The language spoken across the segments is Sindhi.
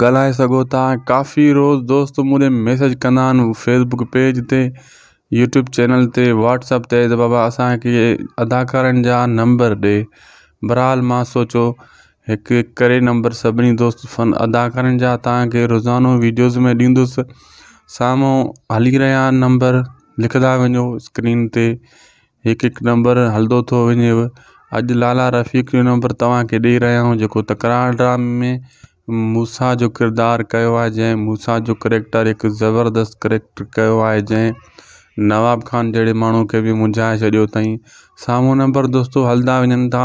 ڳالهائي سگهو ٿا ڪافي روز دوست مون ڏي ميسج ڪندا آهن فيسبڪ پيج تي يوٽيوب چينل تي واٽسپ تي ته بابا اسانکي اداڪارن جا نمبر ڏي برحال ما سوچو هڪ هڪ ڪري نمبر سڀني دوست فن اداڪارن جا تانکي روزانو ويڊيوز ۾ ڏيندس سامهون هلي رهيا آهن نمبر لکندا وڃو اسڪرين تي هڪ هڪ نمبر هلندو ٿو وڃيو اڄ لالا رفيق جو نمبر توهانکي ڏئي رهيا آهيون جيڪو تڪرار ڊرامي ۾ موسيٰ جو ڪردار ڪيو آهي جنهن موسيٰ جو ڪريڪٽر هڪ زبردست ڪريڪٽر ڪيو آهي جنهن نواب خان جهڙي ماڻهو کي به منجهائي ڇڏيو اٿائين سامهون نمبر دوستو هلندا وڃن ٿا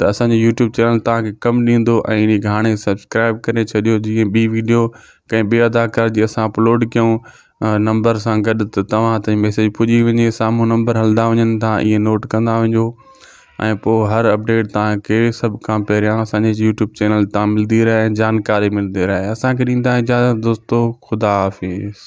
ته اسانجو يوٽيوب چينل توهان کي ڪم ڏيندو ۽ انهي کي هاڻي سبسڪرائب ڪري ڇڏيو جيئن ٻي ويڊيو ڪنهن ٻي اداڪار جي اسان اپلوڊ ڪيون نمبر سان گڏ ته توهان تائين ميسيج پڄي وڃي سامهون نمبر هلندا وڃن ٿا اهي نوٽ ڪندا وڃو ۽ پوء هر اپڊيٽ توهان کي سڀ کان پهريان اسانجي يوٽيوب چينل تان ملندي رهي ۽ جانڪاري ملندي رهي اسان کي ڏيندا اجازت دوستو خدا حافظ